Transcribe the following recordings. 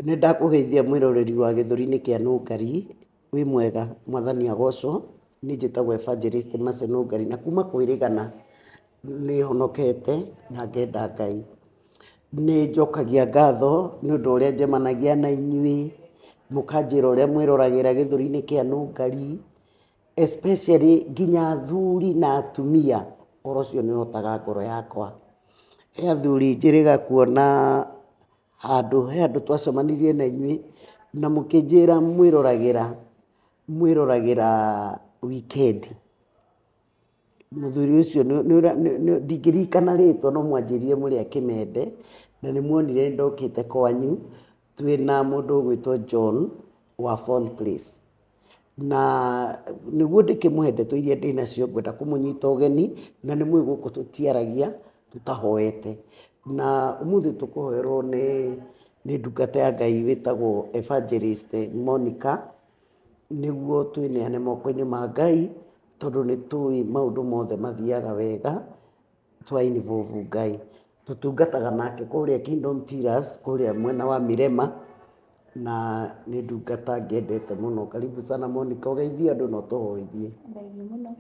Nĩndakũgeithia mwĩroreri wa gĩthũri-inĩ kĩa Nũngari, wĩ mwega, mwathani agocũo, niĩ njĩtagũo Evangelist Mercy Nũngari, na kuma kwĩrĩgana nĩhonokete na ngenda Ngai. Nĩnjokagia ngatho nĩũndũ wa ũrĩa njemanagia na inyuĩ, mũkanjĩra ũrĩa mwĩroragĩra gĩthũri-inĩ kĩa Nũngari, especially nginya athuri na atumia, ũhoro ũcio nĩ ũhotaga ngoro yakwa. He athuri njĩrĩga kuona handũ, he handũ twacemanirie na inyuĩ na mũkĩnjĩra mwĩroragĩra, mwĩroragĩra wikendi. Mũthuri ũcio ndingĩririkana rĩtwa no mwanjĩrire mũrĩ a Kĩmende, na nĩ mwonire ndokĩte kwanyu twĩ na mũndũ ũgwĩtwo John wa Fall Place. Na nĩguo ndĩkĩmũhe ndeto iria ndĩ nacio ngwenda kũmũnyita ũgeni, na nĩ mũĩ gũkũ tũtiaragia tũtahoete. Na ũmũthĩ tũkũhoerwo nĩ ndungata ya Ngai wĩtagwo Evangelist Monica, nĩguo twĩneane moko-inĩ ma Ngai, tondũ nĩ tũĩ maũndũ mothe mathiaga wega twa involve Ngai. Tũtungataga nake kũrĩa Kingdom Pillars kũrĩa mwena wa Mirema, na nĩ ndungata ngendete mũno. Karibu sana Monica ũgeithie andũ na ũtũhoithie. Thengiũ mũno.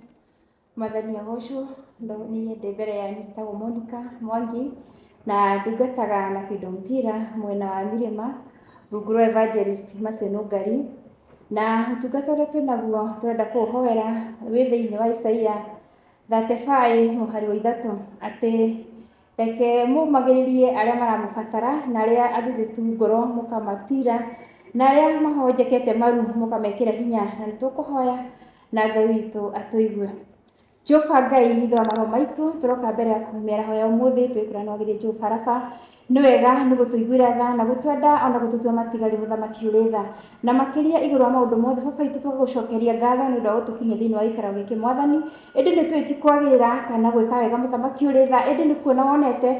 Mwathani agocwo, ndo niĩ ndĩ mbere yanyu njĩtagwo Monica Mwangi na ndungataga na Kĩndo Mpira mwena wa Mirĩma rungu rwa Evangelist Mercy Nũngari. Na ũtungata ũrĩa twĩ naguo tũrenda kũũhoera wĩ thĩinĩ wa Isaia 35 mũhari wa ithatũ atĩ Reke mũmagĩrĩrie arĩa maramũbatara, na arĩa athuthĩku ngoro mũkamatiira, na arĩa mahonjekete maru mũkamekĩra hinya, na nĩ tũkũhoya na Ngai witũ atũigue. Jehova Ngai ithe wa maroho maitũ, tũroka mbere yaku mĩaraho ya ũmũthĩ twĩkũra na wagĩrĩru Jehova Raba. Nĩ wega nĩ gũtũiguĩra tha na gũtwenda ona gũtũtua matigari mũthamaki ũrĩ tha. Na makĩria igũrũ wa maũndũ mothe, Baba witũ, tũgagũcokeria ngatho nĩ ũndũ wa gũtũkinyia thĩinĩ wa gĩikaro gĩkĩ, Mwathani. Ĩndĩ nĩ tũĩ ti kwagĩrĩra kana gwĩka wega Mũthamaki ũrĩ tha, ĩndĩ nĩ kuona wonete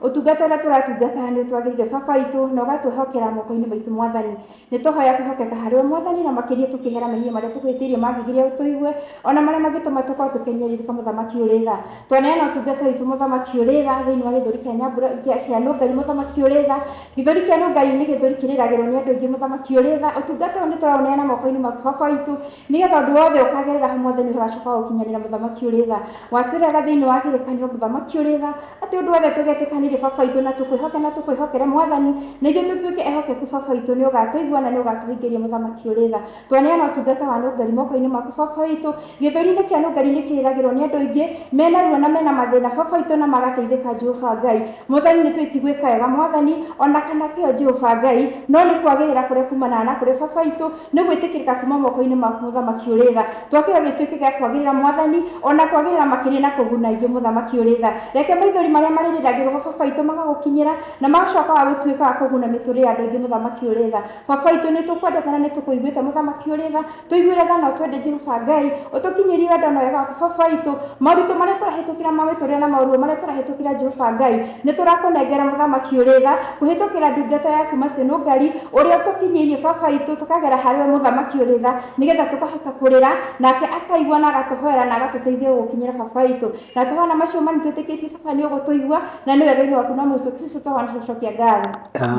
ũtungata ũrĩa tũratungata nĩ ũtwagĩrĩire Baba witũ, na ũgatwĩhokera moko-inĩ maitũ Mwathani. Nĩ tũhoya kwĩhokeka harĩ we Mwathani, na makĩria tũkĩĩhera mehia marĩa tũgwĩhĩtĩirie mangĩgiria ũtũigue, o na marĩa mangĩtũma tũkorwo tũkĩhinyĩrĩrĩka Mũthamaki ũrĩ tha. Twaneana ũtungata witũ Mũthamaki ũrĩ tha thĩinĩ wa gĩthũri kĩa nyambura, kĩa nũngari Mũthamaki ũrĩ tha, Gĩthũri kĩa Rũngai nĩ gĩthũri kĩrĩragĩrwo nĩ andũ aingĩ mũthamaki ũrĩ tha, ũtungata ũyũ nĩtũraũneana moko-inĩ maku baba witũ, nĩgetha ũndũ wothe ũkagerera hau mwathani ũgacoka wa gũkinyanĩra mũthamaki ũrĩ tha. Watwĩraga thĩinĩ wa kĩrĩkanĩro mũthamaki ũrĩ tha, atĩ ũndũ wothe tũgetĩkanĩria baba witũ na tũkwĩhoke na tũkwĩhokere mwathani, na ithuĩ tũtuĩke ehokeku baba witũ nĩũgatũigua na nĩũgatũhingĩria mũthamaki ũrĩ tha. Twaneana ũtungata wa nũngari moko-inĩ maku Baba witũ. Gĩthũri-inĩ kĩa nũngari nĩ kĩrĩragĩrwo nĩ andũ aingĩ, mena ruo na mena mathĩna Baba witũ na magateithĩka Jehova Ngai. Mwathani nĩ twĩti gwĩka wega Mwathani, ona kana kĩo Jehova Ngai, no nĩ kwagĩrĩra kũrĩa kumanaga na kũrĩ Baba witũ, nĩ gwĩtĩkĩrĩka kuma moko-inĩ maku Mũthamaki ũrĩ tha. Twa kĩo gĩtuĩke gĩa kwagĩrĩra Mwathani, ona kwagĩrĩra makĩria na kũguna aingĩ Mũthamaki ũrĩ tha. Reke maithori marĩa marĩrĩragĩrwo ho Baba witũ magagũkinyĩra, na magacoka wa gũtuĩka wa kũguna mĩtũrĩre ya andũ aingĩ Mũthamaki ũrĩ tha. Baba witũ nĩ tũkwendete na nĩ tũkũiguĩte mũthamaki ũrĩ tha tũiguĩre tha na ũtwende Jehova Ngai ũtũkinyĩrie wendo na wega waku baba witũ maũritũ marĩa tũrahĩtũkĩra ma mĩtũrĩre na maũruo marĩa tũrahĩtũkĩra Jehova Ngai nĩ tũrakũnengera mũthamaki ũrĩ tha kũhĩtũkĩra ndungata yaku Macinũ Ngari ũrĩa ũtũkinyĩirie baba witũ tũkagera harĩ we mũthamaki ũrĩ tha nĩgetha tũkahota kũrĩra nake akaigua na agatũhoera na agatũteithia gũgũkinyĩra baba witũ na tũhana macio mani twĩtĩkĩtie baba nĩ ũgũtũigua na nĩ wega-inĩ waku na mũico kristo tũhana tũcokia ngatho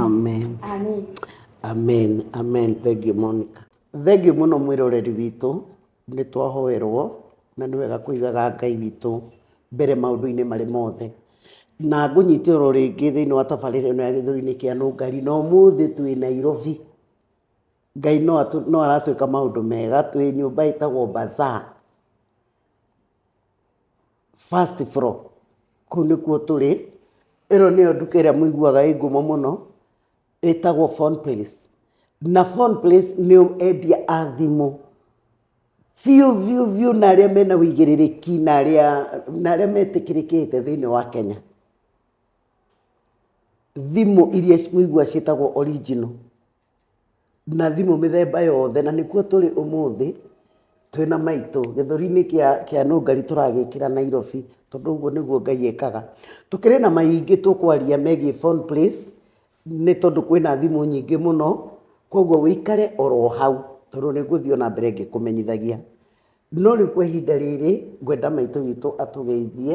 amen amen amen amen thengio monica thengio mũno mwĩroreri witũ nĩ twahoerwo na nĩ wega kũigaga ngai witũ mbere maũndũ-inĩ marĩ mothe na ngũnyite oro rĩngĩ thĩinĩ wa tabarĩra ĩno ya gĩthũri-inĩ kĩa nũngari na ũmũthĩ twĩ nairobi ngai no atũ- no aratwĩka maũndũ mega twĩ nyũmba ĩtagwo bazaar First floor, kũu nĩkuo tũrĩ, ĩno nĩyo nduka ĩrĩa mũiguaga ĩ ngumo mũno, ĩtagwo Phone Place. Na Phone Place nĩo endia a thimũ biũ biũ biũ na arĩa mena ũigĩrĩrĩki na arĩa, na arĩa metĩkĩrĩkĩte thĩiniĩ wa Kenya. Thimũ iria mũiguaga ciĩtagwo original. na thimũ mĩthemba yothe, na nĩkuo tũrĩ ũmũthĩ twĩna maitũ gĩthũri-inĩ kĩa nũngari tũragĩkĩra Nairobi, tondũ ũguo nĩguo Ngai ekaga. Tũkĩrĩ na maingĩ tũkwaria megiĩ Phone Place, nĩ tondũ kwĩna thimũ nyingĩ mũno, koguo ũikare oro hau, tondũ nĩ ngũthiĩ o na mbere ngĩkũmenyithagia. No rĩu kwa ihinda rĩrĩ, ngwenda maitũ witũ atũgeithie,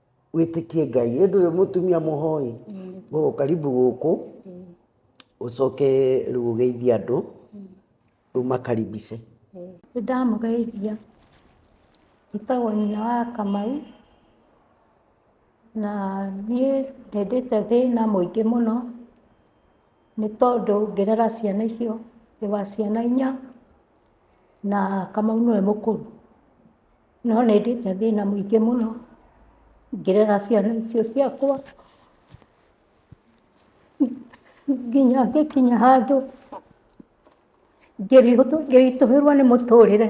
wĩtĩkie ngai ĩndũ rĩ mũtumia mũhoi gũkũ karibu gũkũ ũcoke rĩu ũgeithie andũ rĩu makaribice Nĩ ndamũgeithia. Njĩtagwo nyina wa Kamau, na niĩ ndĩndĩte thĩna mũingĩ mũno, nĩ tondũ ngĩrera ciana icio, ndĩ wa ciana inya, na Kamau nĩwe mũkũrũ. No nĩ ndĩĩte thĩĩna mũingĩ mũno ngĩrera ciana icio ciakwa, nginya ngĩkinya handũ ngĩritũhĩrwo nĩ mũtũrĩre.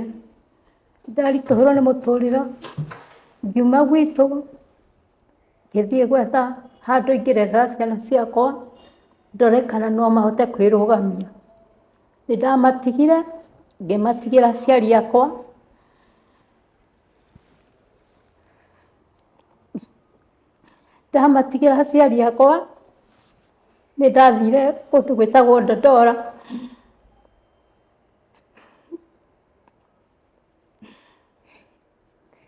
Ndaritũhĩrwo nĩ mũtũrĩre ngiuma gwitũ ngĩthiĩ gwetha handũ ingĩrerera ciana ciakwa ndore kana no mahote kwĩrũgamia. Nĩ ndamatigire, ngĩmatigĩra aciari akwa, ndamatigĩra aciari akwa, nĩ ndathire kũndũ gwĩtagwo Dandora,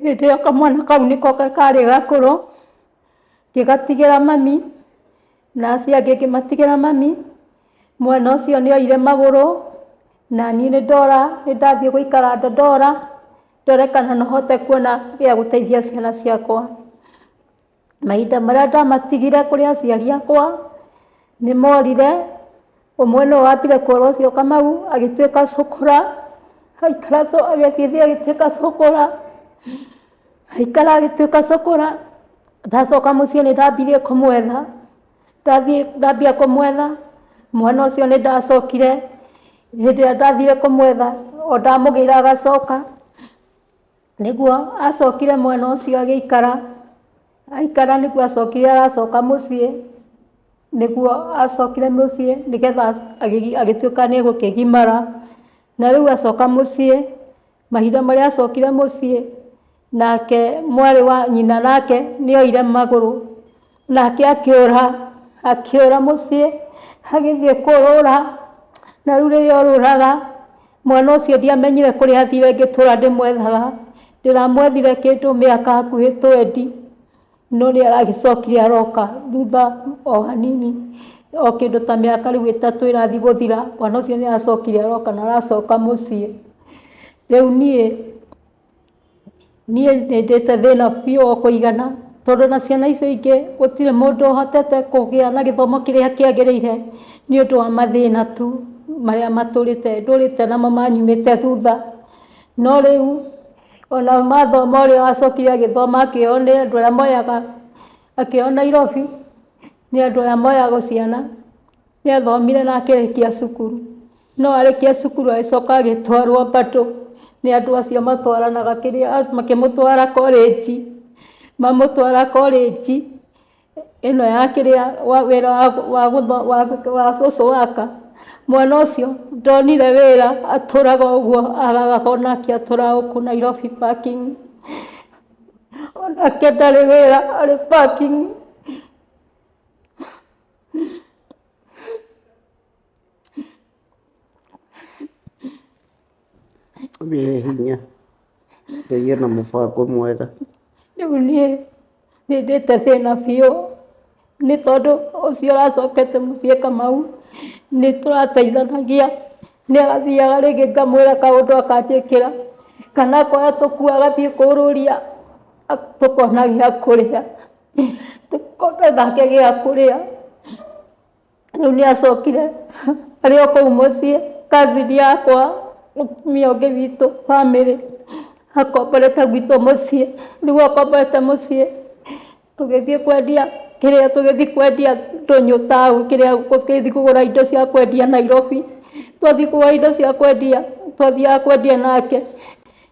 Hĩndĩ ĩyo kamwana kau nĩko karĩ gakũrũ, ngĩgatigĩra mami, na acio angĩ ngĩmatigĩra mami, mwana ũcio nĩ oire magũrũ, naniĩ nĩ ndora, nĩ ndathiĩ gũikara Dandora, ndore kana no hote kuona gĩa gũteithia ciana ciakwa. Mahinda marĩa ndamatigire kũrĩ aciari akwa, nĩ morire, ũmwe nĩwe wambire kũrũa ũcio Kamau, agĩtuĩka cũkũra, agĩikara agĩthiĩ agĩtuĩka cũkũra, agĩikara agĩtuĩka cũkũra, ndacoka mũciĩ nĩ ndambirie kũmwetha, ndathiĩ ndambia kũmwetha, mwana ũcio nĩ ndacokire, hĩndĩ ĩrĩa ndathire kũmwetha, o ndamũgĩra agacoka. Nĩguo acokire mwena ũcio agĩikara, aikara nĩguo acokire aracoka mũciĩ, nĩguo acokire mũciĩ nĩgetha agĩtuĩka nĩ egũkĩgimara, na rĩu acoka mũciĩ, mahinda marĩa acokire mũciĩ, nake mwarĩ wa nyina nake nĩ oire magũrũ. Nake akĩũra, akĩũra mũciĩ, agĩthiĩ kũũrũra, na rĩu rĩrĩa orũraga, mwana ũcio ndiamenyire kũrĩa athire ngĩtũra ndĩmwethaga, ndĩramwethire kĩndũ mĩaka hakuhĩ twendi, no nĩ aragĩcokire aroka thutha o hanini, o kĩndũ ta mĩaka rĩu ĩtatũ ĩrathi gũthira, mwana ũcio nĩ aracokire aroka na aracoka mũciĩ. Rĩu niĩ Niĩ nĩ ndĩte thĩna biũ wa kũigana tondũ na ciana icio ingĩ gũtirĩ mũndũ ũhotete kũgĩa na gĩthomo kĩrĩa kĩagĩrĩire nĩ ũndũ wa mathĩna tu marĩa matũrĩte namo manyumĩte thutha. No rĩu ona mathoma ũrĩa wacokire agĩthoma akĩoywo nĩ andũ arĩa moyaga, akĩoywo Nairobi nĩ andũ arĩa moyaga ciana, nĩ athomire na akĩrĩkia cukuru. No arĩkia cukuru agĩcoka agĩtwarwo mbandũ nĩ andũ acio matwaranaga kĩrĩa, makĩmũtwara korĩnji, mamũtwara korĩnji ĩno ya kĩrĩa, wĩra wa wa social worker. Mwana ũcio ndonire wĩra atũraga o ũguo araraga o nake atũraga gũkũ Nairobi parking. O nake ndarĩ wĩra arĩ parking. wĩ hinya ngai ena mũbango mwega rĩu niĩ nĩndĩte thĩna biũ nĩ tondũ ũcio ũracokete mũciĩ kamau nĩ tũrateithanagia nĩ agathiaga rĩngĩ ngamwĩra kaũndũ akanjĩkĩra kana akoya tũkũ agathiĩ kũũrũria tũkona gĩa kũrĩa tũkona nake gĩa kũrĩa. Rĩu nĩ acokire arĩ o kũu mũciĩ, cousin yakwa, mũtumia ũngĩ witũ, famĩlĩ, akomborete gwitũ mũciĩ. Rĩu akomborete mũciĩ, tũgĩthiĩ kwendia kĩrĩa, tũgĩthiĩ kwendia ndũnyũ taũni, kĩrĩa, tũgĩthiĩ kũgũra indo cia kwendia Nairobi. Twathiĩ kũgũra indo cia kwendia, twathiaga kwendia nake,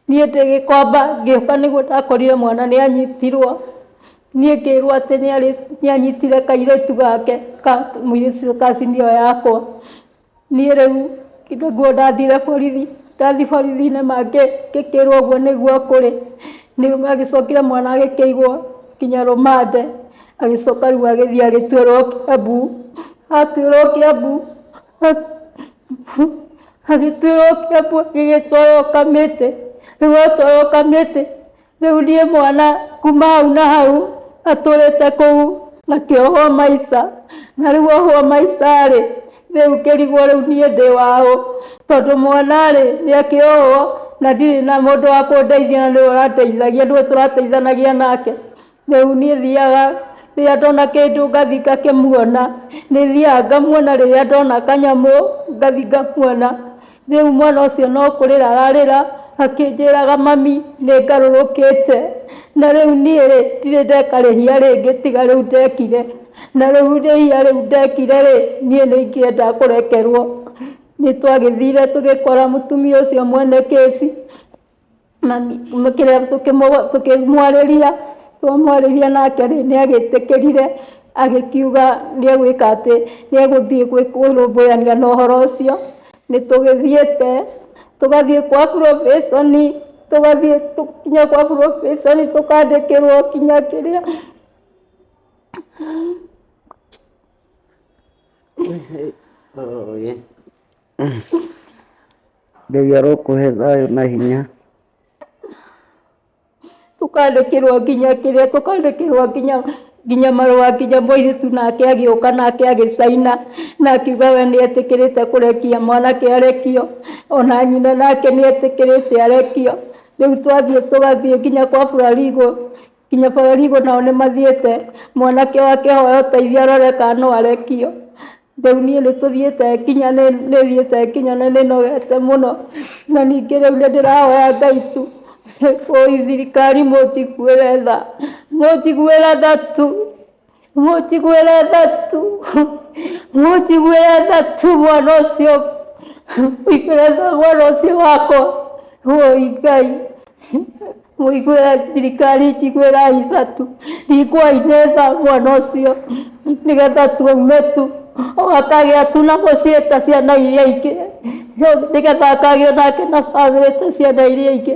niĩ ndĩ gĩkomba, ngĩũka nĩguo ndakorire mwana nĩ anyitirwo. niĩ ngĩrwo atĩ nĩarĩ nĩanyitire kairĩtu gake ka mũirĩtu ũcio ka senior yakwa niĩ rĩu nĩguo ndathire borithi ndathi borithi-inĩ mangĩ ngĩkĩrwo ũguo nĩguo kũrĩ nĩguo magĩcokire mwana agĩkĩigwo nginya rũmande agĩcoka rĩu agĩthiĩ agĩtuĩrwo Kiambu atuĩrwo Kiambu agĩtuĩrwo Kiambu agĩgĩtwarwo Kamĩtĩ rĩu atwarwo Kamĩtĩ Rĩu niĩ mwana kuma hau na hau atũrĩte kũu akĩohwo maica na rĩu ohwo maica rĩ rĩu ngĩrigwo rĩu niĩ ndĩ waũ tondũ mwana rĩ nĩ akĩohwo na ndirĩ na mũndũ wa kũndeithia na nĩwe ũrandeithagia nĩwe tũrateithanagia nake rĩu niĩ thiaga rĩrĩa ndona kĩndũ ngathi ngakĩmuona nĩ thiaga ngamuona rĩrĩa ndona kanyamũ ngathi ngamuona Rĩu mwana ũcio no kũrĩra ararĩra akĩnjĩraga mami nĩ ngarũrũkĩte na rĩu niĩ rĩ ndirĩ ndeka rĩhia rĩngĩ tiga rĩu ndekire na rĩu rĩhia rĩu ndekire rĩ niĩ nĩ ingĩenda kũrekerwo. Nĩ twagĩthire tũgĩkora mũtumia ũcio mwene kĩci mami kĩrĩa tũkĩmũ- tũkĩmwarĩria twamwarĩria nake rĩ nĩ agĩtĩkĩrire agĩkiuga nĩ egwĩka atĩ nĩ egũthiĩ gwĩ- kũrũmbũyania na ũhoro ũcio nĩ tũgĩthiĩte tũgathiĩ kwa burobĩconi tũgathiĩ tũ- kinya kwa burobĩconi tũkandĩkĩrwo kinya kĩrĩa Ũũgĩ. Ngai arokũhe thayũ na hinya. tũkandĩkĩrwo nginya kĩrĩa tũkandĩkĩrwo nginya nginya marũa nginya mũirĩtu nake agĩũka nake agĩcaina na akiuga we nĩ etĩkĩrĩte kũrekia mwanake arekio ona nyina nake nĩ etĩkĩrĩte arekio rĩu twathiĩ tũgathiĩ nginya kwa burarigũ kinya borigo nao nĩ mathiĩte mwanake wa kĩhoya ũteithio arore kana no arekio rĩu niĩ nĩ tũthiĩte kinya nĩ nĩ thiĩte kinya na nĩ nogete mũno na ningĩ rĩu nĩ ndĩrahoya ngai tu ĩĩ thirikari mũnjiguĩre tha mũnjiguĩre tha tu. mujiguĩre thatu mujiguĩre thatu mwana ũcio mũiguĩre tha mwana ũcio wakwa woi ngai mũiguĩre thirikari njiguĩra ithatu riguai nĩ tha mwana ũcio nĩgetha tuume tu akagĩa tu na mũciĩ ta ciana iria ingĩ nĩgetha akagĩa nake na bamĩrĩ ta ciana iria ingĩ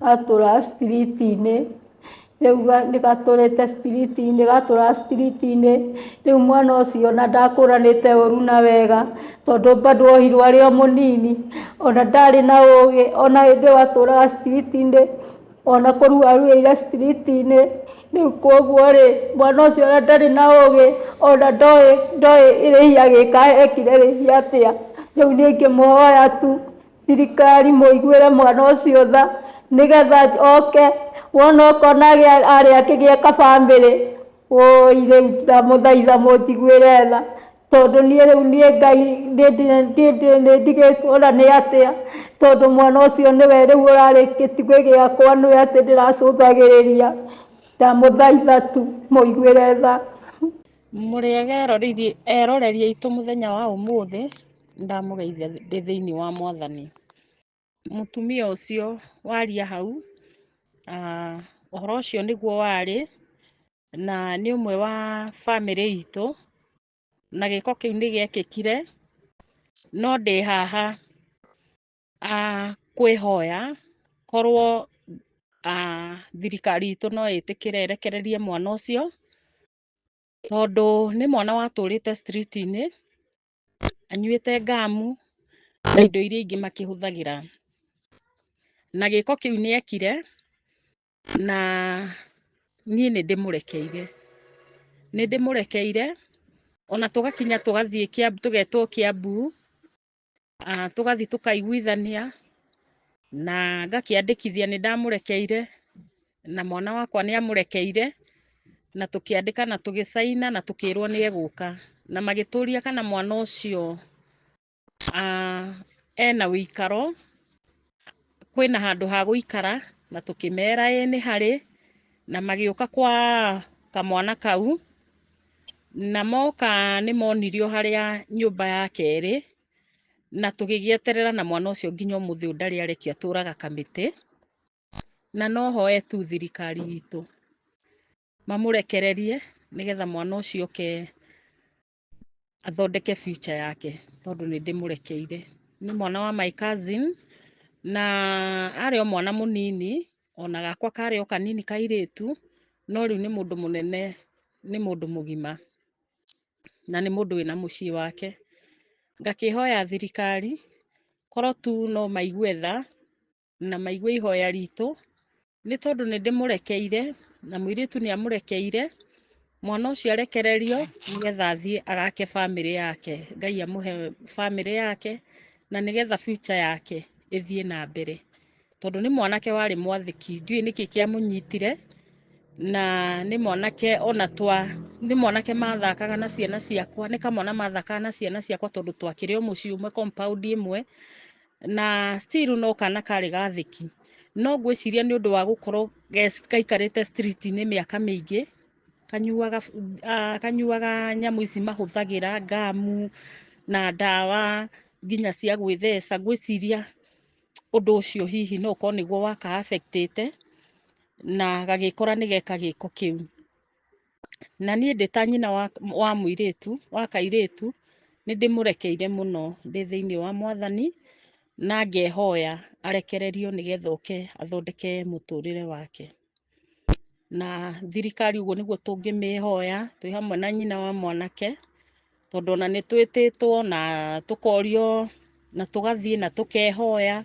gatũra street-inĩ, rĩu gatũrĩte street-inĩ, gatũra street-inĩ, rĩu mwana ũcio ona ndakũranĩte ũru na wega, tondũ bado ohirwo arĩ o mũnini, ona ndarĩ na ũgĩ, ona hĩndĩ ĩyo atũraga street-inĩ, ona kũrua aruĩte street-inĩ, rĩu koguo rĩ, mwana ũcio ona ndarĩ na ũgĩ, ona ndoĩ ndoĩ rĩhia agĩka ekire rĩhia atĩa, rĩu niĩ ingĩmũhoya tu, Thirikari mũiguĩre mwana ũcio tha nĩgetha oke wona ũkona arĩ akĩgĩa kabamĩrĩ wũi rĩu ndamũthaitha mũnjiguĩre tha tondũ niĩ rĩu niĩ Ngai nĩndigĩtwo na nĩ atĩa tondũ mwana ũcio nĩwe rĩu ũrarĩ gĩtugĩ gĩakwa nĩwe atĩ ndĩracũthagĩrĩria ndamũthaitha tu mũiguĩre tha. Mũrĩega eroreri aitũ mũthenya wa ũmũthĩ Nĩndamũgeithia ndĩ thĩinĩ wa Mwathani. Mũtumia ũcio waria hau, aah ũhoro ũcio nĩguo warĩ, na nĩ ũmwe wa bamĩrĩ itũ, na gĩko kĩu nĩ gĩekĩkire, no ndĩ haha aah kwĩhoya korwo aah thirikari itũ no ĩtĩkĩre ĩrekererie mwana ũcio, tondũ nĩ mwana watũrĩte street -inĩ, anyuĩte ngamu na indo iria ingĩ makĩhũthagĩra. Na gĩko kĩu nĩ ekire na niĩ nĩ ndĩmũrekeire. Nĩ ndĩmũrekeire ona tũgakinya tũgathiĩ Kĩambu, tũgetwo Kĩambu, tũgathiĩ tũkaiguithania na ngakĩandĩkithia nĩ ndamũrekeire. na mwana wakwa nĩ amũrekeire, na tũkĩandĩka na tũgĩcaina na tũkĩrwo nĩ egũka. Na magĩtũria kana mwana ũcio ena ũikaro, kwĩna handũ ha gũikara, na tũkĩmera ĩĩ nĩ harĩ, na magĩũka kwa kamwana kau, na moka nĩ monire o harĩa nyũmba yake ĩrĩ, na tũgĩgĩeterera na mwana ũcio nginya ũmũthĩ ũyũ ndarĩ arekia atũraga kamĩtĩ. na no hoe tu thirikari itũ mamũrekererie nĩgetha mwana ũcio oke athondeke future yake tondũ nĩ ndĩmũrekeire. Nĩ mwana wa my cousin na arĩ o mwana mũnini ona gakwa karĩ o kanini kairĩtu no rĩu nĩ mũndũ mũnene nĩ mũndũ mũgima na nĩ mũndũ wĩna mũciĩ wake. Ngakĩhoya thirikari korwo tu no maigue tha na maigue ihoya ritũ, nĩ tondũ nĩ ndĩmũrekeire, na mũirĩtu nĩ amũrekeire, mwana ũcio arekererio nĩgetha athiĩ agake bamĩrĩ yake, Ngai amũhe bamĩrĩ yake, na nĩgetha future yake ĩthiĩ na mbere, tondũ nĩ mwanake warĩ mwathĩki, ndiũwĩ nĩkĩ kĩa mũnyitire, na nĩ mwanake ona twa, nĩ mwanake mathakaga na ciana ciakwa, nĩ kamwana mathakaga na ciana ciakwa tondũ twakĩrĩ o mũciĩ ũmwe, compound ĩmwe, na still no kana karĩ gathĩki no ngwĩciria nĩ ũndũ wa gũkorwo ge- gaikarĩte street-inĩ mĩaka mĩingĩ kanyuaga bu- ah, kanyuaga nyamũ ici mahũthagĩra ngamu na ndawa nginya cia gwĩtheca ngwĩciria ũndũ ũcio hihi no ũkorwo nĩguo waka affect ĩte na gagĩkora nĩgeka gĩko kĩu. na niĩ ndĩ ta nyina wa, wa mũirĩtu, wa kairĩtu, nĩ ndĩmũrekeire mũno ndĩ thĩinĩ wa Mwathani, na ngehoya arekererio nĩgetha oke athondeke mũtũrĩre wake. Na thirikari ũguo nĩguo tũngĩmĩhoya, twĩ hamwe na nyina wa mwanake, tondũ ona nĩ twĩtĩtwo na tũkorio na tũgathiĩ na tũkehoya,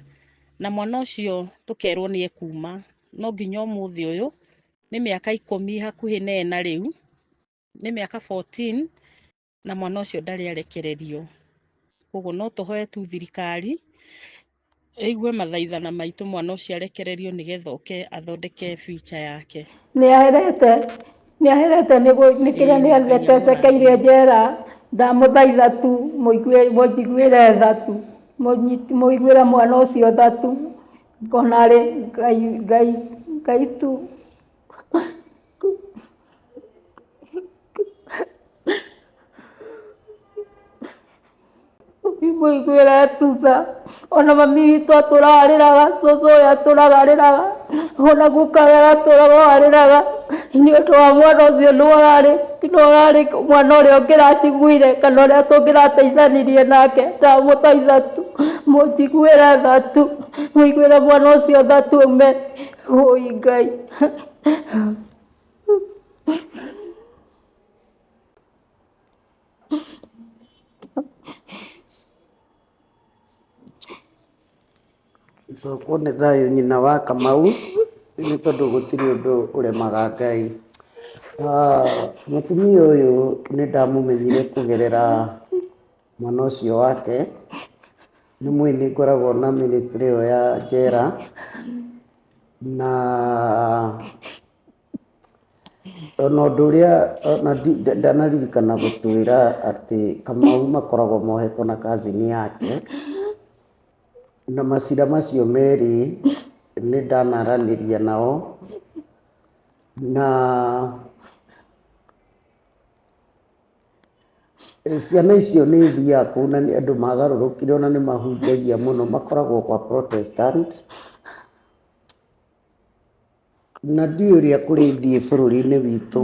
na mwana ũcio tũkerwo nĩ ekuma. No nginya ũmũthĩ ũyũ, nĩ mĩaka ikũmi hakuhĩ na ĩna rĩu, nĩ mĩaka 14 na mwana ũcio ndarĩ arekererio. Koguo no tũhoe tu thirikari ĩigue mathaithana maitũ mwana ũcio arekererio nĩgetha oke athondeke future yake. nä aherete nä aherete nä kä rä a nä aherete cekeire njera ndamå thaitha tu må njiguä re tha tu må njiguä re mwana å cio tha tu Ngonarĩ Ngai, Ngai, Ngai tu. Mũiguĩre tu tha, ona mami witũ atũraga arĩraga, cũcũ ũyũ atũraga arĩraga, ona guka ũyũ atũraga o arĩraga, nĩ ũndũ wa mwana ũcio nĩ ũrarĩ, nĩ ũrarĩ mwana ũrĩa ũngĩraciguire kana ũrĩa tũngĩrateithanirie nake, ndamũthaitha tu mũnjiguĩre tha tu. Mũiguĩre mwana ũcio tha tume. Wũi Ngai. Cokwo nĩ thayũ nyina wa Kamau nĩ tondũ gũtirĩ ũndũ ũremaga Ngai. Ah, Mũtumia ũyũ nĩ ndamũmenyire kũgerera mwana ũcio wake nĩ mũĩ nĩ ngoragwo na ministry ĩyo ya njera na ona ũndũ ũrĩa ona ndi- nda- ndanaririkana gũtwĩra atĩ kamau makoragwo mohetwo na kazini yake na macira macio merĩ nĩ ndanaranĩria nao na Ciana icio nĩ ithiaga kũu na nĩ andũ magarũrũkire ona nĩ mahunjagia mũno, makoragwo kwa Protestant. Na ndiũĩ ũrĩa kũrĩthiĩ bũrũri-inĩ witũ,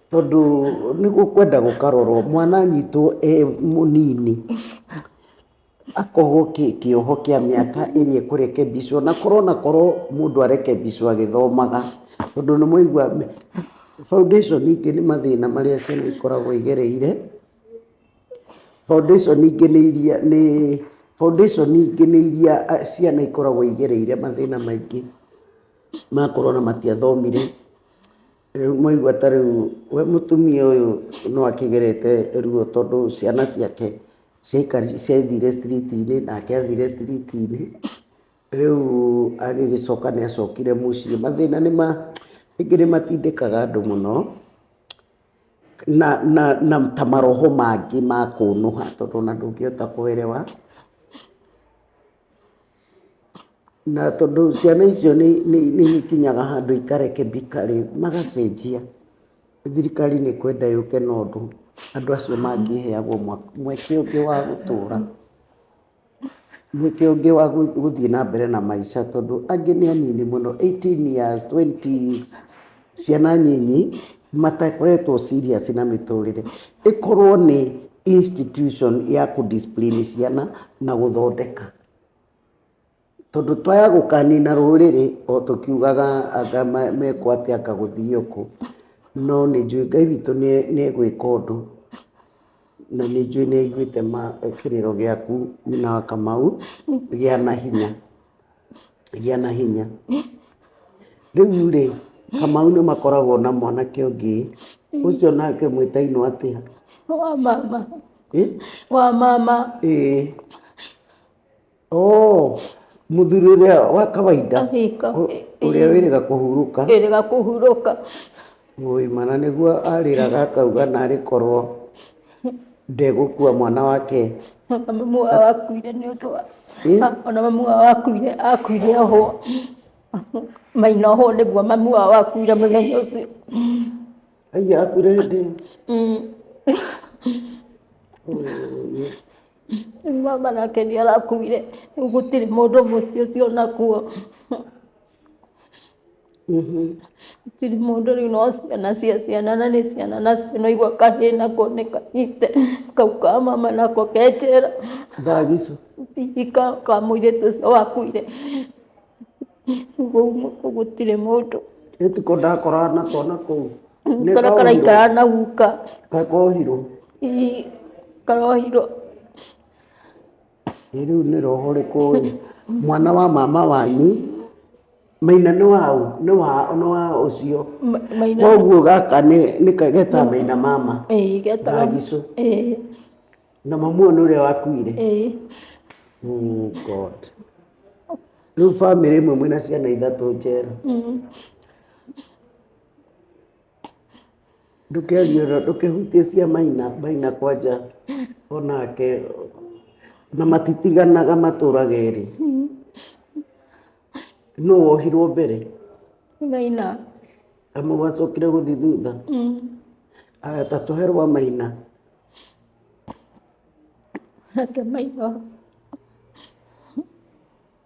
tondũ nĩ gũkwenda gũkarorwo, mwana anyitwo e mũnini. akohwo kĩoho kĩa mĩaka ĩrĩa ekũrekebicwo na korwo na korwo mũndũ arekebicwo agĩthomaga tondũ nĩ mwaigua foundation ingĩ nĩ mathĩna marĩa ciana ikoragwo igereire, foundation ingĩ nĩ iria nĩ foundation ingĩ nĩ iria ciana ikoragwo igereire mathĩna maingĩ makorwo ona matiathomire. Rĩu mwaigua ta rĩu we mũtumia ũyũ no akĩgerete ruo tondũ ciana ciake ciaikari- ciathire street-inĩ nake athire street-inĩ rĩu agĩgĩcoka nĩ acokire mũciĩ mathĩna nĩ ma rĩngĩ nĩ matindĩkaga andũ mũno na, na, na ta maroho mangĩ ma kũnũha tondũ ona ndũngĩhota kũ elewa Na tondũ ciana icio nĩ nĩ nĩ ikinyaga handũ ikarekebika rĩ, magacenjia, thirikari nĩ kwenda yũke na ũndũ andũ acio mangĩheagwo mweke ũngĩ wa gũtũra, mweke ũngĩ wa gũthiĩ na mbere na maica tondũ angĩ nĩ anini mũno, eighteen years, twenty years. ciana nyinyi matakoretwo serious na mĩtũrĩre ĩkorwo nĩ institution ya kũ discipline ciana na gũthondeka tondũ twaya gũkanina rũrĩrĩ o tũkiugaga anga ma- mekwo atĩa anga gũthiĩ ũkũ no nĩ njũĩ ngai witũ nĩ- nĩ egwĩka ũndũ na nĩ njũĩ nĩ aiguĩte ma- kĩrĩro gĩaku nyina wa kamau gĩa na hinya gĩa na hinya rĩu rĩ kamau nĩ makoragwo na mwanake ũngĩ ũcio nake mwĩtainwo atĩa wa mama Eh? wa mama Eh. Oh, mũthuri ũrĩa wa kawaida Kahika. ũ- ũrĩa wĩrĩga kũhurũka ĩrĩga kũhurũka Wũi mana nĩguo arĩraga akauga narĩ korwo ndegũkua mwana wake Ona mamu wao akuire nĩ ũndũ wa Ĩ? ona mamu wao akuire akuire ohwo maina ohwo nĩguo mamu wao akuire mũthenya ũcio aiya akure hĩndĩ ĩyo. Mm. Mama nake nĩ arakuire rĩu gũtirĩ mũndũ mũciĩ ũcio nakuo Gũtirĩ mũndũ rĩu no ciana cia ciana na nĩ ciana nacio no igua kahĩĩ nako nĩ kanyite kau ka mama nako ke njera hihi ka mũirĩtu ũcio wakuire ũguo gũtirĩ mũndũ karĩa karaikara na guka hihi karohirwo. Ĩ rĩu nĩ roho rĩkũ ĩ? Mwana wa mama wanyu, Maina nĩ wa ũ? Nĩ wa nĩ wa ũcio. Ma- maina Koguo gaka nĩ nĩ kageta Maina mama. ĩĩ getaga Gagicũ. ĩĩ Na mamuo nĩ ũrĩa wakuire. ĩĩ Oh God. Rĩu bamĩrĩ ĩmwe mwĩna ciana ithatũ njera. Mm. ndũkerie ũndũ ndũkĩhutie cia maina maina kwanja onake na matitiganaga matũraga erĩ nũ wohirwo mbere maina amu wacokire gũthiĩ thutha mm. aya ta tũhe rwa maina ake maina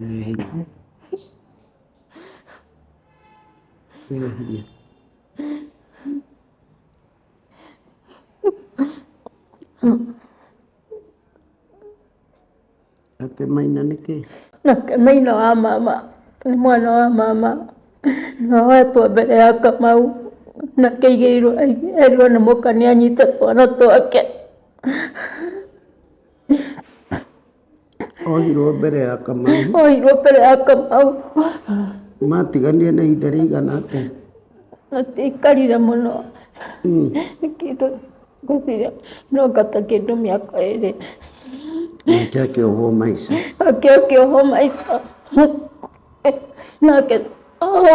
Ina hanya. Ina hanya. Ate maina nĩkĩ? Na maina wa mama nĩ mwana wa mama na wetwo mbere ya Kamau na kĩigĩirwo erirwo nĩ mũka nĩ anyite twana twake. Ohirwo mbere ya Kamau. Ohirwo mbere ya Kamau. Matiganire na ihinda rĩigana atĩa? Matiaikarire mũno. Hmm. Nĩ kĩndũ ngwĩciria no ngata kĩndũ mĩaka ĩrĩ. Nake akĩohwo maica. Nake akĩohwo maica. Nake ohwo.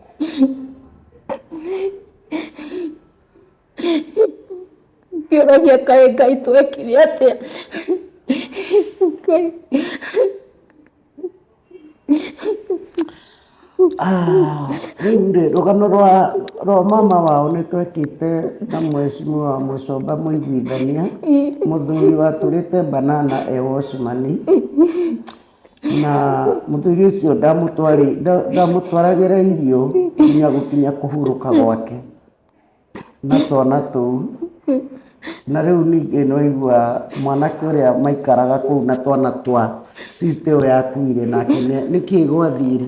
ngĩũragia kaĩ ngai twekire atĩa ngai Ah, rĩu rĩ rũgano rwa rwa mama wao nĩ twekĩte na mwecimiwa mũcomba mũiguithania mũthuri watũrĩte banana e wocimani na mũthuri ũcio ndamũtwarĩ- nda- ndamũtwaragĩra irio nginya gũkinya kũhurũka gwake na twana tũu na rĩu ningĩ nĩwaigua mwanake ũrĩa maikaraga kũu na twana twa sister ĩyo yakuire nake nĩ- nĩkĩĩ gwathire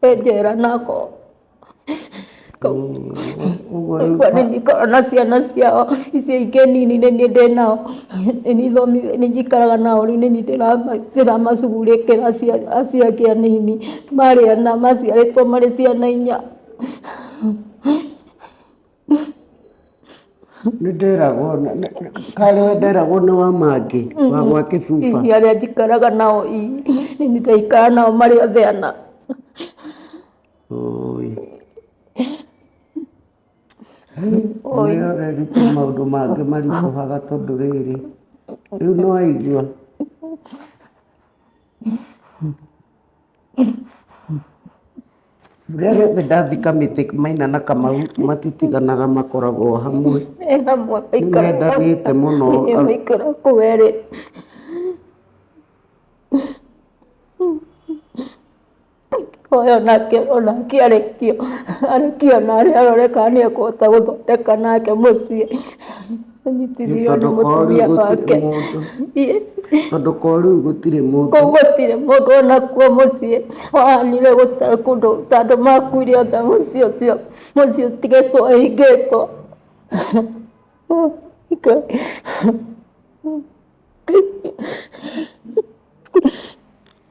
penjera nako kwa nini korona ciana ciao icio ingĩ nini nĩ niĩ ndĩ nao nĩ niĩ thomi nĩ njikaraga nao rĩu nĩ niĩ ndĩrama- ndĩramacugurĩkĩra acia- aciake anini marĩ ana maciarĩtwo marĩ ciana inya nĩ nderagwo na- na- na- karĩ we nderagwo nĩ wa mangĩ wa gwa kĩbuba Hihi arĩa njikaraga nao i nĩ ndĩraikara nao marĩ othe ana Oi. Oi. Nĩ ũreruta maũndũ mangĩ maritũhaga tondũ rĩrĩ rĩu nĩ waigua Rĩrĩa rĩothe ndathika mĩtĩ Maina na Kamau matitiganaga makoragwo o hamwe. Me hamwe maikaraga hamwe. Nĩmendanĩte mũno. Nĩkĩo maikaraga kũu erĩ. Ingĩhoya onake onake arekio arekio narĩ arore kana nĩekũhota gũthondeka nake mũciĩ. Nĩ tondũ Nĩthirio nĩ korĩu mũtumia gũtirĩ wake. mũndũ Ĩ- tondũ korĩu gũtirĩ mũndũ Kũu gũtirĩ mũndũ onakuo mũciĩ wahanire gũta kũndũ ta andũ makuire othe mũciĩ ũcio mũciĩ ũtigĩtwo ũhingĩtwo Ngai.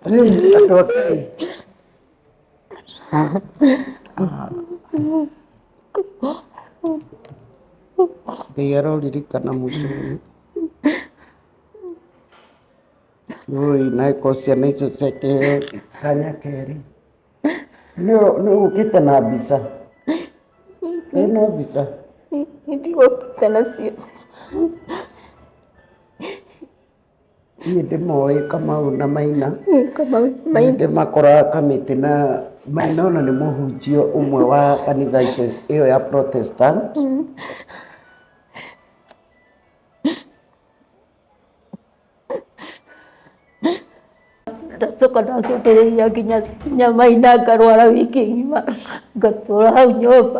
Hey, andũ akĩ Ngai aroririkana mũciĩ ũyũ. Ui, na ko ciana icio ciake kanya kerĩ. Nĩ ũgũkĩte na mbica? Wĩna mbica? Ndigũkĩte nacio. niĩ ndĩmoĩ kamau na maina ndĩmakoraga kamĩtĩ na maina ona nĩ mũhunjia ũmwe wa kanitha ĩyo ya protestant ndacoka ndacokereria nginya nginya maina ngarwara wiki ng'ima ngatũra hau nyũmba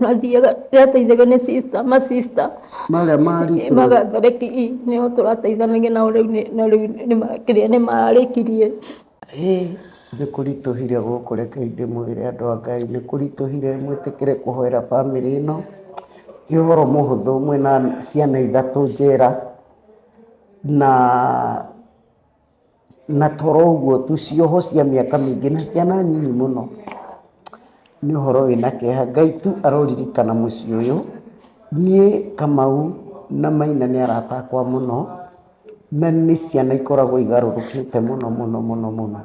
mathiaga rä ateithagio nä sister ma sister marĩa maritwo magathareki nä o tå rateithanagia nao rä u no rä u kä rä a nä marä kirie nĩ kũritũhire gũkũ reke indĩ mwĩre andũ a ngai nĩ kũritũhire mwĩtĩkĩre kũhoera bamĩrĩ ĩno ti ũhoro mũhũthũ mwĩna ciana ithatũ njera na na toro ũguo tu, cioho cia mĩaka mĩingĩ na ciana nini mũno. Nĩ ũhoro wĩna kĩeha. Ngai tu aroririkana mũciĩ ũyũ. Niĩ Kamau na Maina nĩ arata akwa mũno, na nĩ ciana ikoragwo igarũrũkĩte mũno mũno mũno mũno.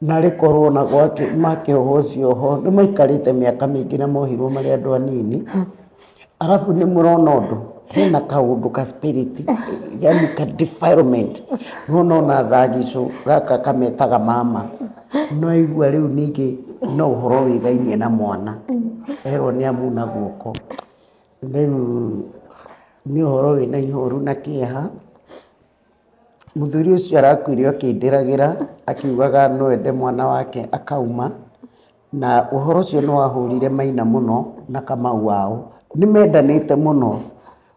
Na rĩkorwo na gwake makĩohwo cioho nĩ maikarĩte mĩaka mĩingĩ na mohirwo marĩ andũ anini, arabu nĩ mũrona ũndũ hena kaũndũ ka spirit yaani ka defilement nĩ wona ona thagicũ gaka kametaga mama nĩ waigua rĩu ningĩ no ũhoro wĩgainie na mwana erwo nĩ amuna guoko rĩu nĩ ũhoro wĩna ihoru na kĩeha. Mũthuri ũcio arakuire akĩndĩragĩra akiugaga no ende mwana wake akauma, na ũhoro ũcio nĩ wahũrire Maina mũno na Kamau wao. Nĩ mendanĩte mũno,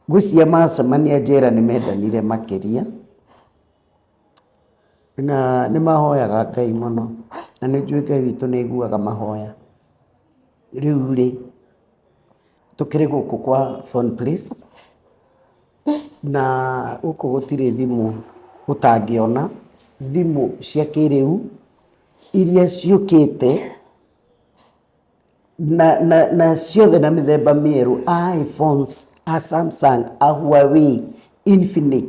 ngwĩciria macemania njera nĩ mendanire makĩria, na nĩ mahoyaga Ngai mũno, na nĩ njũĩ Ngai witũ nĩ aiguaga mahoya. Rĩu rĩ... Tũkĩrĩ gũkũ kwa Phone Please, na gũkũ gũtirĩ thimũ ũtangĩona, thimũ cia kĩrĩu iria ciũkĩte na na na ciothe na mĩthemba mĩerũ, iPhones, a Samsung, a Huawei, Infinix.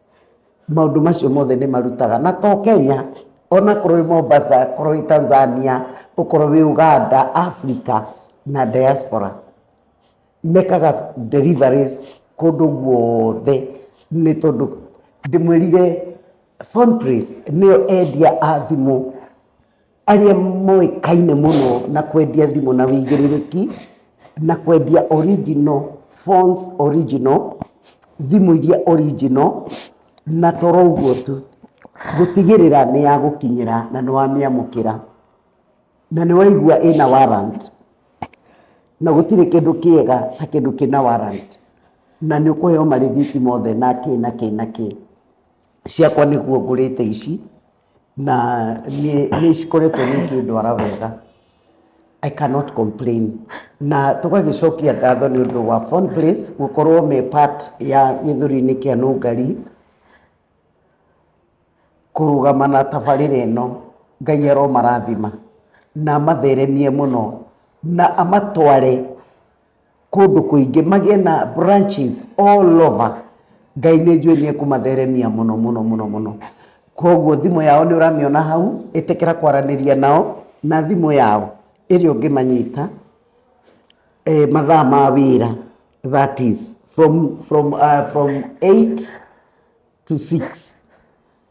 Maũndũ macio mothe nĩ marutaga na to Kenya, ona korwo wĩ Mombasa, korwo wĩ Tanzania, ũkorwo wĩ Uganda, Africa na diaspora, mekaga deliveries kũndũ guothe nĩ tondũ ndĩmwĩrire Phone Prince nĩyo endia a thimũ. arĩa moĩkaine mũno na kwendia thimũ na wĩigĩrĩrĩki na kwendia original phones original thimũ iria original na toro ũguo tu gũtigĩrĩra nĩ ya gũkinyĩra na nĩ wamĩamũkĩra na nĩ waigua ĩna warrant na gũtirĩ kĩndũ kĩega ta kĩndũ kĩna warrant na nĩ ũkũheo marĩthiti mothe na kĩ na kĩ na kĩ ciakwa nĩguo ngũrĩte ici. na niĩ nĩ cikoretwo ikĩndwara wega I cannot complain na tũgagĩcokia ngatho nĩ ũndũ wa Fun Place gũkorwo me part ya gĩthũri-inĩ kĩa Nũngari kũrũgama na tabarĩra ĩno Ngai aromarathima na amatheremie mũno na amatware kũndũ kũingĩ magĩe na branches all over Ngai nĩ njũĩ nĩ ekũmatheremia mũno mũno mũno mũno kwoguo thimũ yao nĩ ũramĩona hau ĩtĩkĩra kwaranĩria nao na thimũ yao ĩrĩa ũngĩmanyita mathaa ma wĩra that is from eight to six.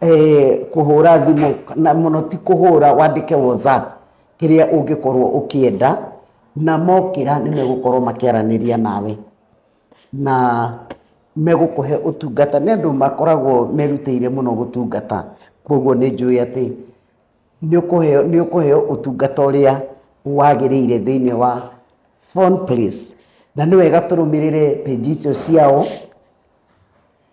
eh, kũhũra thimũ na mũno ti kũhũra wandĩke whatsapp kĩrĩa ũngĩkorwo ũkĩenda na mokĩra nĩ megũkorwo makĩaranĩria nawe na megũkũhe ũtungata nĩ andũ makoragwo merutĩire mũno gũtungata koguo nĩ njũĩ atĩ nĩ ũkũheo nĩ ũkũheo ũtungata ũrĩa wagĩrĩire thĩinĩ wa phone place na nĩ wega tũrũmĩrĩre page icio ciao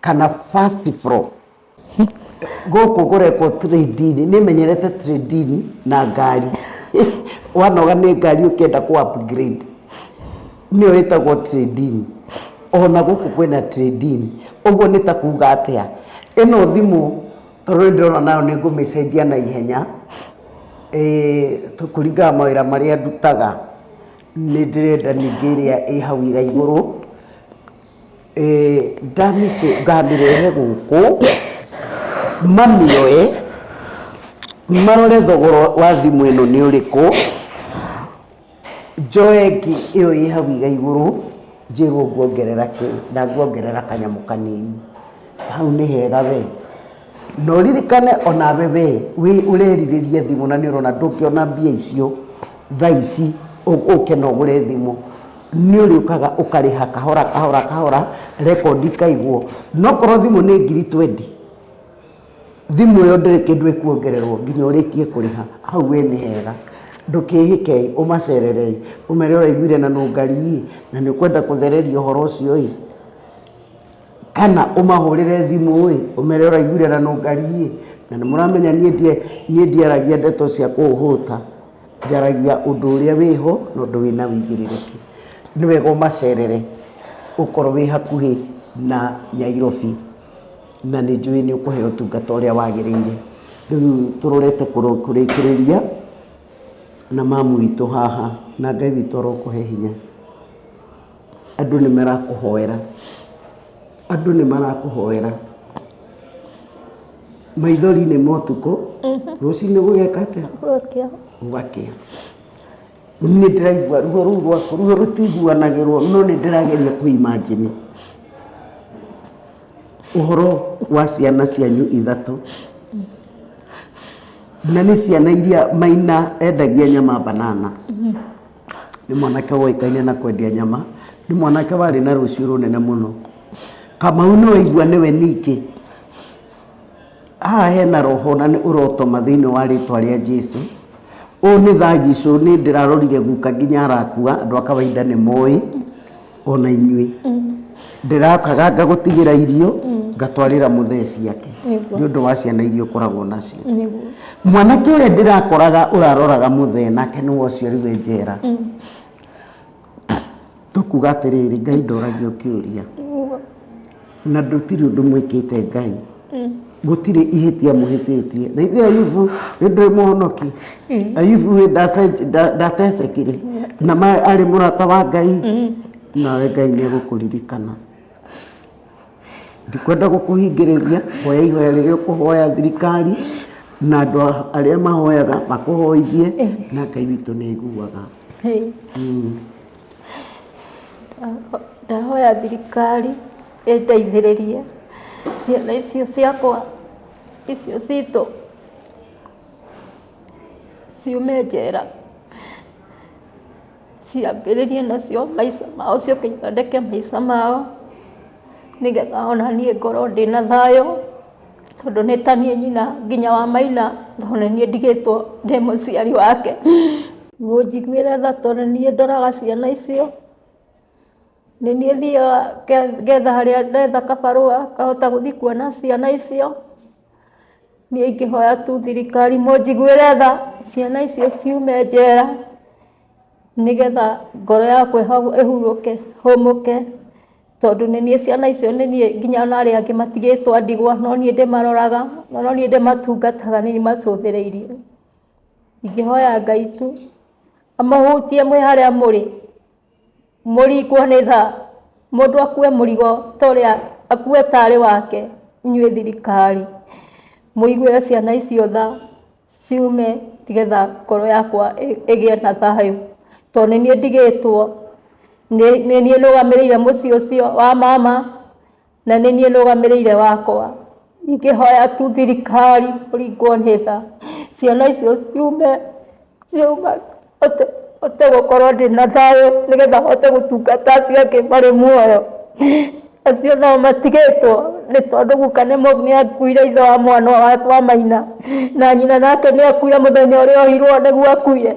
kana first floor gũkũ kũrekwo trading nĩ menyerete trading na ngari wanoga nĩ ngari ũkĩenda kũ upgrade nĩyo ĩtagwo trading ona gũkũ kwĩna trading ũguo nĩ ta kuga atĩa ĩno thimũ tondũ nĩ ndĩrona nayo nĩ ngũmĩcenjia na ihenya kũringana mawĩra marĩa ndutaga nĩ ndĩrenda ningĩ ĩrĩa ĩ hau igaigũrũ. Ngamĩrehe gũkũ mamĩoe marore thogora wa thimũ ĩno nĩ ũrĩkũ, njoe ĩngĩ ĩyo ĩ hau igaigũrũ njĩrwo nguongerera kĩ, na nguongerera kanyamũ kanini. Hau nĩ hega wee? Na ũririkane onawe we ũrerirĩria thimũ na nĩ ũrona ndũngĩona mbia icio thaa ici ũke na ũgũre thimũ, nĩ ũrĩũkaga ũkarĩha kahora kahora kahora record ikaigwo. Na okorwo thimũ nĩ ngiri twendi, thimũ ĩyo ndĩrĩ kĩndũ ĩkuongererwo nginya ũrĩkie kũrĩha, hau we nĩ hega. Ndũkĩhĩke-ĩ, ũmacerere-ĩ, ũmere ũraiguire na nũngari-ĩ, na nĩ ũkwenda kũthererio ũhoro ũcio-ĩ. kana ũmahũrĩre thimũ ĩ ũmere ũraiguire na nũngari ĩ na nĩ mũramenya niĩ ndiaragia ndeto cia kũhũta njaragia ũndũ ũrĩa wĩho na ũndũ wĩna ũigĩrĩrĩki, nĩ wega ũmacerere okorwo wĩ hakuhĩ na Nyairobi na nĩ njũĩ nĩ ũkũheo ũtungata ũrĩa wagĩrĩire. Rĩu tũrorete kũrĩkĩrĩria na mamu witũ haha na Ngai witũ arokũhe hinya. Andũ nĩ marakũhoera. Andũ nĩ marakũhoera. Maithori nĩ motukũ. Mhm. Rũcinĩ gũgeka atĩa? Gũgakĩa. Gũgakĩa. Nĩ ndĩraigua ruo rũu rwaku, ruo rũtiguanagĩrwo no nĩ ndĩrageria kũimajini ũhoro wa ciana cianyu ithatũ na nĩ ciana iria maina endagia nyama banana. Mhm. Nĩ mwanake woĩkaine na kwendia nyama, nĩ mwanake warĩ na rũciũ rũnene mũno. Kamau nĩ waigua nĩwe ningĩ. Haha hena roho na nĩ ũrotoma thĩinĩ wa rĩtwa rĩa Jesu. Ũũ nĩ Thaa Gisũ, nĩ ndĩrarorire guka nginya arakua, andũ a kawainda nĩ moĩ. ona inyuĩ ndĩrakaga ngagũtigĩra irio ngatwarĩra mũthee ciake Nĩguo. nĩ ũndũ wa ciana iria ũkoragwo nacio Nĩguo. mwanake ũrĩa ndĩrakoraga ũraroraga mũthee nake nĩ wociarirwe njera tũkuga atĩrĩrĩ ngai ndoragia kĩũria Nĩguo. na ndũtirĩ ũndũ mwĩkĩte ngai mm. gũtirĩ ihĩtia mũhĩtĩtie na ithuĩ ayubu nĩ ndũĩ mũhonoki mm. ayubu wĩ ndatecekire na ma arĩ mũrata wa ngai mm. nawe ngai nĩ egũkũririkana ndikwenda gũkũhingĩrĩria hoya ihoya rĩrĩa ũkũhoya thirikari na andũ arĩa mahoyaga makũhoithie eh. na ngai witũ nĩ aiguaga Ndahoya thirikari ĩndeithĩrĩrie ciana icio ciakwa icio citũ ciume njera ciambĩrĩrie nacio maica mao ciũke ithondeke maica mao nĩgetha onaniĩ ngorwo ndĩna thayũ. tondũ nĩ ta niĩ nyina nginya wa maina tondũ nĩ niĩ ndigĩtwo ndĩ mũciari wake, mũnjiguĩre tha tondũ nĩ niĩ ndoraga ciana icio, nĩ niĩ thiaga ngetha harĩa ndetha kabarũa ngahota gũthiĩ kuona ciana icio, niĩ ingĩhoya tu thirikari mũnjiguĩre tha ciana icio ciume njera. nĩgetha ngoro yakwa ĩho- ĩhurũke hũmũke tondũ nĩ niĩ ciana icio nĩ niĩ nginya ona arĩa angĩ matigĩtwo a ndigwa no niĩ ndĩmaroraga na no niĩ ndĩmatungataga nĩ niĩ ndĩmacũthĩrĩirie, ingĩhoya Ngai tu amũhutie mwĩ harĩa mũrĩ. Mũrikwo nĩ tha, mũndũ akue mũrigo ta ũrĩa, akue tarĩ wake, inyuĩ thirikari mũiguĩre ciana icio tha ciume nĩgetha ngoro yakwa ĩgĩe na thayũ, tondũ nĩ niĩ ndigĩtwo, nĩ niĩ ndũgamĩrĩire mũciĩ ũcio wa mama. na nĩ niĩ nũgamĩrĩire wakwa, ingĩhoya tu thirikari kũringwo nĩ tha, ciana icio ciume, ciume hote, hote gũkorwo ndĩna thayũ nĩgetha hote gũtungata acio angĩ marĩ muoyo, acio nao matigĩtwo, nĩ tondũ guka nĩ mũ, nĩ akuire ithe wa mwana, wa maina, na nyina nake nĩ akuire mũthenya ũrĩa ohirwo nĩguo akuire.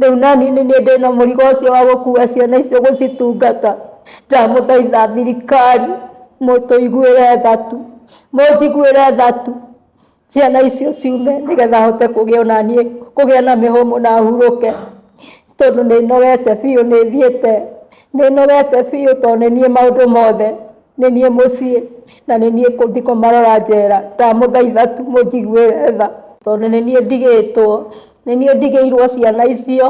Rĩu nani nĩ niĩ ndĩna mũrigo ũcio wa gũkua ciana icio gũcitungata. Ndamũthaitha thirikari mũtũiguĩre tha tu, mũnjiguĩre tha tu ciana icio ciume nĩgetha hote kũgĩa o na niĩ kũgĩa na mĩhũmũ na hurũke tondũ nĩ nogete biũ nĩ thiĩte. Nĩ nogete biũ tondũ nĩ niĩ maũndũ mothe, nĩ niĩ mũciĩ na nĩ niĩ ngũthiĩ kũmarora njera. Ndamũthaitha tu mũnjiguĩre tha tondũ nĩ niĩ ndigĩtwo. nĩ niĩ ndigĩirwo ciana icio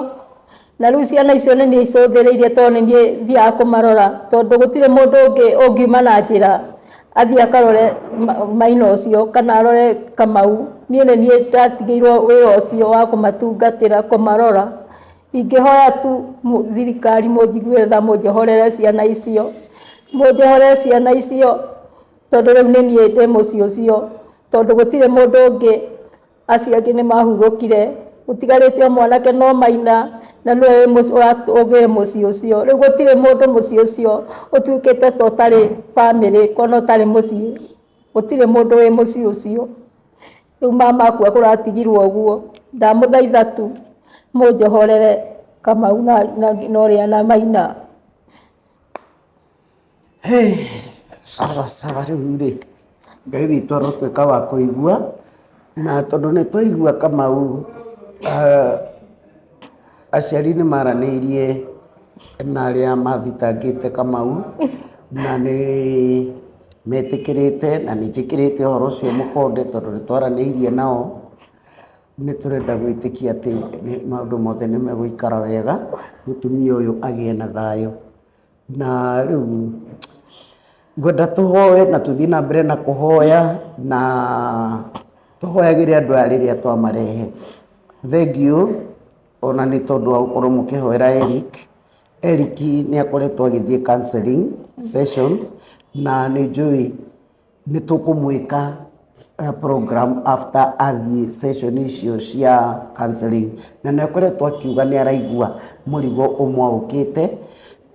na rĩu ciana icio nĩ niĩ icũthĩrĩirie tondũ nĩ niĩ thiaga kũmarora tondũ gũtirĩ mũndũ ũngĩ ũngiuma na njĩra athiĩ akarore maina ũcio kana arore kamau niĩ nĩ niĩ ndatigĩirwo wĩra ũcio wa kũmatungatĩra kũmarora ingĩhoya tu thirikari mũnjigue tha mũnjohorere ciana icio mũnjohorere ciana icio tondũ rĩu nĩ niĩ ndĩ mũciĩ ũcio tondũ gũtirĩ mũndũ ũngĩ. Acio angĩ nĩ mahurũkire, gũtigarĩte o mwanake no Maina, na nĩwe ũgĩe mũciĩ ũcio. Rĩu gũtirĩ mũndũ mũciĩ ũcio ũtuĩkĩte ta ũtarĩ bamĩrĩ, kana ũtarĩ mũciĩ. Gũtirĩ mũndũ wĩ mũciĩ ũcio. Rĩu mama akua kũratigirwo ũguo. Ndamũthaitha tu mũnjohorere Kamau na Maina. Sawa sawa, rĩu rĩ, Ngai witũ arotwĩka wa kũigua, na tondũ nĩ twaigua Kamau aciari nĩ maranĩirie na arĩa mathitangĩte Kamau, na nĩ metĩkĩrĩte na nĩ njĩkĩrĩte ũhoro ũcio mũkonde tondũ nĩ twaranĩirie nao, nĩ tũrenda gwĩtĩkia atĩ maũndũ mothe nĩ megũikara wega, mũtumia ũyũ agĩe na thayũ. Na rĩu ngwenda tũhoe na tũthiĩ na mbere na kũhoya na tũhoyagĩre andũ aya rĩrĩa twamarehe. Thengiũ ona nĩ tondũ wa gũkorwo mũkĩhoera Eric. Eric nĩ akoretwo agĩthiĩ counselling sessions na nĩ njũĩ Nĩ tũkũmwĩka programme after athiĩ session icio cia counselling na nĩ akoretwo akiuga nĩ araigua mũrigo ũmwaũkĩte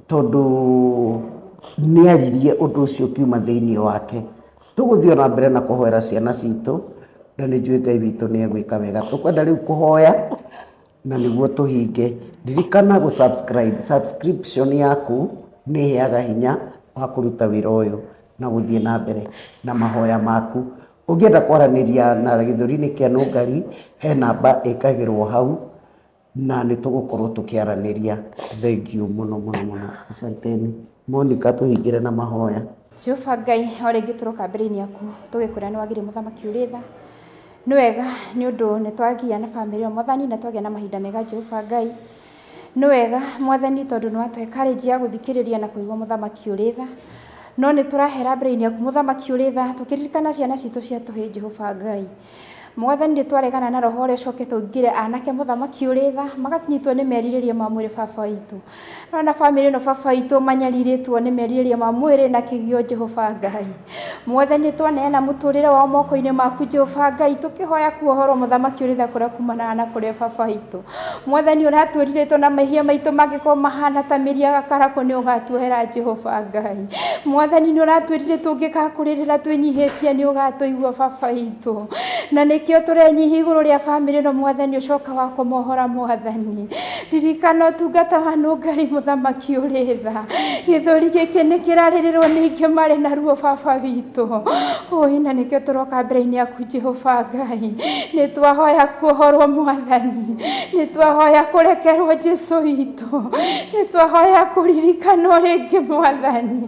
tondũ nĩ aririe ũndũ ũcio ũkiuma thĩinĩ wake. Tũgũthiĩ ona mbere na kũhoera ciana citũ na nĩ njũĩ Ngai witũ nĩ egwĩka wega. Tũkwenda rĩu kũhoya na nĩguo tũhinge. Ririkana gũ subscribe. Subscription yaku nĩ ĩheaga hinya wa kũruta wĩra ũyũ na gũthiĩ na mbere na mahoya maku. Ũngĩenda kwaranĩria na gĩthũri-inĩ kĩa Nũngari, he namba ĩkagĩrwo hau na nĩ tũgũkorwo tũkĩaranĩria. Thengiũ mũno mũno mũno. Asanteni. Monika tũhingĩre na mahoya. Jehova Ngai, o rĩngĩ tũroka mbere-inĩ yaku tũgĩkũrĩa nĩ wagĩrĩire mũthamaki ũrĩ tha. Nĩ wega nĩ ũndũ nĩ twagĩa na bamĩrĩ ĩyo mwathani na twagĩa na mahinda mega Jehova Ngai. Nĩ wega mwathani tondũ nĩ watũhe courage ya gũthikĩrĩria na kũigua mũthamaki ũrĩ tha. No nĩ tũrahera mbere-inĩ yaku mũthamaki ũrĩ tha tũkĩririkana ciana citũ cia tũhĩĩ Jehova Ngai. Mwathani nĩtwaregana na roho ũrĩa ũcoke tũingĩre anake mũthamaki ũrĩ tha magakĩnyitwo nĩ merirĩria ma mwĩrĩ baba witũ no na bamĩrĩ ĩno baba witũ manyarirĩtwo nĩ merirĩria ma mwĩrĩ na kĩgio Jehova Ngai Mwathani nĩtwaneana mũtũrĩre wao moko-inĩ maku Jehova Ngai tũkĩhoya kuohorwo mũthamaki ũrĩ tha kũrĩa kumanaga na kũrĩa baba witũ Mwathani ũratũrirĩtwo na mehia maitũ mangĩkorwo mahana ta mĩri ya gakarakũ nĩ ũgatuohera Jehova Ngai. Mwathani nĩ ũratwĩrirĩtwo ũngĩgakũrĩrĩra twĩnyihĩtie nĩ ũgatũigua baba witũ. Na nĩkĩo tũrenyihi igũrũ rĩa bamĩrĩ ĩno Mwathani ũcoka wa kũmohora Mwathani. Ririkana ũtungata wa nũngari mũthamaki ũrĩ tha. Gĩthũri gĩkĩ nĩ kĩrarĩrĩrwo nĩ ingĩ marĩ na ruo baba witũ. Ũĩ na nĩkĩo tũroka mbere-inĩ yaku Jehova Ngai, nĩ twahoya kuohorwo mwathani, nĩ twahoya kũrekerwo Jesu witũ, nĩ twahoya kũririkanwo rĩngĩ mwathani,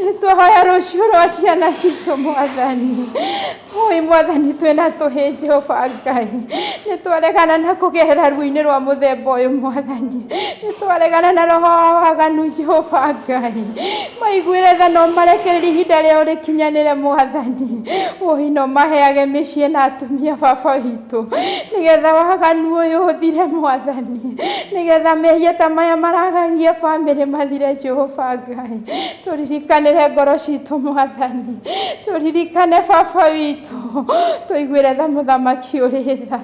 nĩ twahoya rũciũ rwa ciana citũ mwathani. Oi mwathani twĩna tũhĩ Jehova Ngai, nĩ twaregana na kũgerera ruo-inĩ rwa mũthemba ũyũ mwathani, nĩ twaregana na roho wa waganu Jehova Ngai, Maiguĩre tha na ũmarekererie ihinda rĩao rĩkinyanĩre, Mwathani. Wũi na ũmaheage mĩciĩ na atumia, Baba witũ, nĩgetha waganu ũyũ ũthire, Mwathani. Nĩgetha mehia ta maya maragagia bamĩrĩ mathire, Jehova Ngai. Tũririkanĩre ngoro citũ, Mwathani. Tũririkane Baba witũ. Tũiguĩre tha mũthamaki ũrĩ tha.